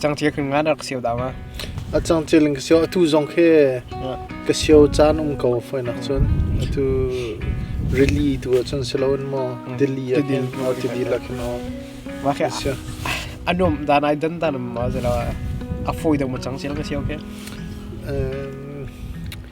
Cangcil kan ngan rak sio dang ah. A cangcil in ka sio atu zong khi ka sio caan um ko foi nak cun atu rili tu ah cun si lo in maw Delhi ah hin maw Delhi la khin o. Mah khi anum dan ai dan dan ma ze la a foi dang ma cangcil ka sio khi.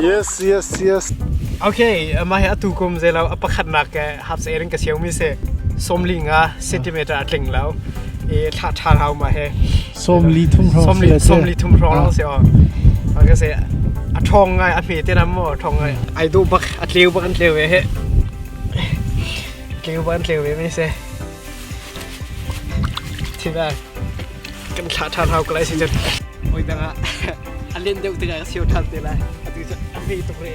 Yes, yes, yes. Okay, mah hi atu kum zei lo a pakhat nak ke hap se ring ka siau mi se somli nga centimeter atling lo e thla thar hau ma he somli thum ro somli somli thum ro lo se o ka se a thong ngai a hme te na mo thong ngai ai do bak a tleu bak an tleu ve he tleu bak an tleu ve me se thi ba kan thla ṭha hau ko lai si cun oi dang ah a len deuh tikah ka sio ṭhan te lai atu cu a hme tuk re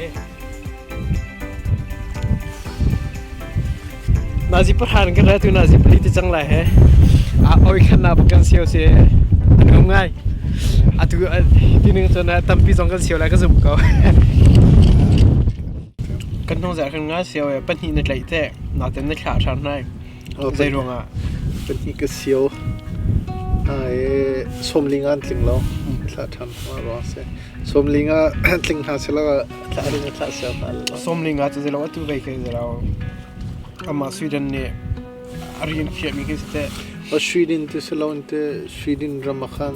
nazi pahra kan ra tu nazi pali ti cang lai he a oi khan na kan sio se an ngam ngai atu tining cun tampi zong kan sio lai ka zum ko kan hnong zah kan nga sio e pahnih na tlaih te na ten na thla ṭhan nai Zei ruangah? Pahnih ka sio. Hna i sawmling ah an tling lo. Thlah ṭhan hna ruang a si. Sawmling ah tling hna selaw thlah ring ah thlah ser hna law. Sawmling ah cu zeilaw atu vei kai zerau. Amah Sweden nih a rin khiahmi khi si teh. Australian tu selaw te Sweden ram a khan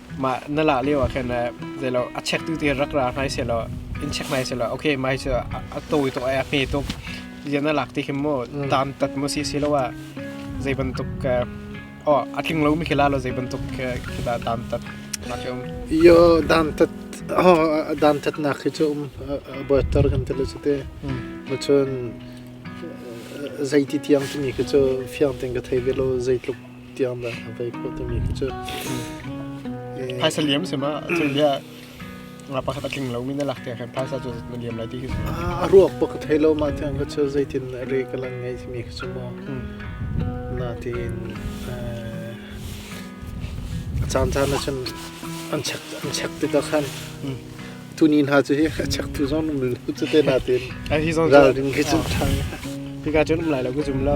mah na la lio ah khan zeilaw a check tu te rak ra hnai se law in check nai se law okay mai chu a to to a hme to ya na lak ti him mo tam tat mo si si lo a zei bantuk o a tling lo mi khila lo zei bantuk khila tam tat na ke um yo dam tat ho dam tat na khi chu um boitor kan te lo chite mo chun zei ti tiang tu mi khi chu fiang ten ka thei ve lo zei tluk tiangdah a vei khawh timi khi cu phaisa liam sim ah cu bia nga pakhat a tling lomi na lak tiang khan phaisa cu na liam lai ti khi a ruak pakhat thei lo ma tiang kha cu zeitin na re ka lang ngai timi khi cu maw na tiin a caan caan ah cun an chek an chek ti ta khan tuni hna cu hi a chek tu zon um lu cu te na tiin hi zon ral ding khi cu thang hi ka chun um lai lo ku zum lo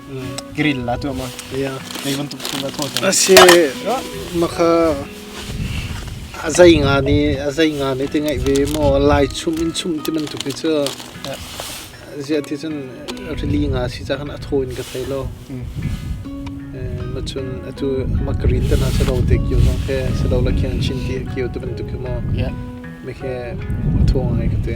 grill la tu ma kei bantuk chung la tho ta asi makha azai nga ni azai nga ni te ngai ve mo lai chum in chum ti man tu khi chu zia ti chun rili nga si cha khan atho in ka thai lo ma chun atu ma grill ta na sa lo te kyo song khe sa lo la khian chin ti kyo tu ban tu khi mo me khe atho ngai ka te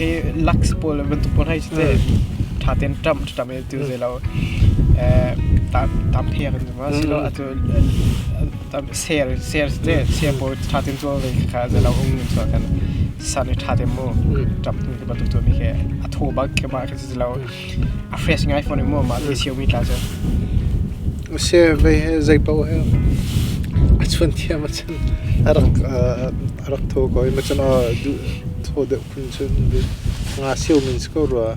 ke laks pawl bantuk pawl hai te tha ten tam tam e tu ze lo eh tam tam phek ni ma si lo atu tam ser ser te se po tha ten to ve kha ze lo ung ni so kan san tha te mu tam tu ba tu mi ke atho ba ke ba ke ze lo A fresh ngai fawn mu mah le siawi tla cu. Use vei he zei paoh he a chun thiam a chun a rak a rak tho ko i machan a du tho deuh phun chun di nga siu min ko rua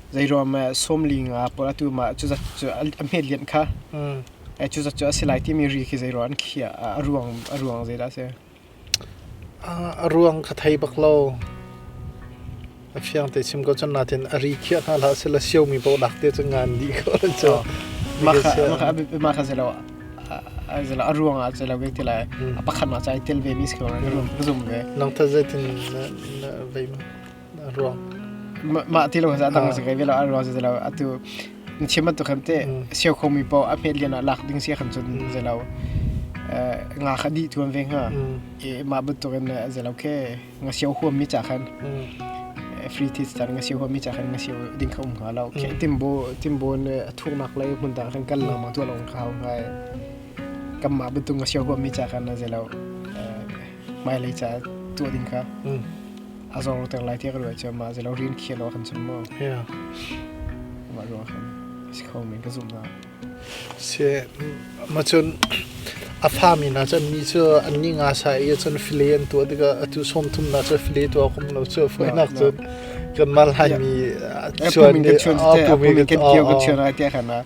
zeiruang ah sawmli nga pawl atu mah cu zat cu a hmetlianh kha cu zat cu a si lai timi ri khi zeiruang an khiah a ruang a ruang zeidah a si? A ruang kha thei bak lo. A fiang te chim ko cun natin a ri khiah hna hlah sila siomi paoh lak te cu ngan dih ko an cu. Mah kha zelo zelo a ruang ah zelo vek ti lai. A pakhat mah ca i tel ve mi si ko na zum ve. Nang ta zeitin na vei ma? ruang mah ti lo sa dang se kai velo an ruang se lo atu chim tu kham te siu khong mi po a phet lian a lak ding sia kham chun se lo nga kha di tuan ve nga e ma but to ken se lo ke nga siu huam mi cha khan free tit tar nga siu huam mi cha khan nga siu ding khom nga lo ke timbo timbo ne thu nak lai mun da khan kal la ma to long khao ngai kam ma but nga siu huam mi cha khan se lo hmailei ca tuah ding kha mm. a zor ter lai tiah ka ruah cun mah zelo rin khia lo kan chun mo yeah mah ruah khan si kho men ka zum na se ma chun a fa mi na chan mi chu an ni nga sa i chan file an tu daga atu som thum na cha file tu kum lo chu foi nak chu kan mal hai mi chuan de a pu mi kan kiyo ka chana te khana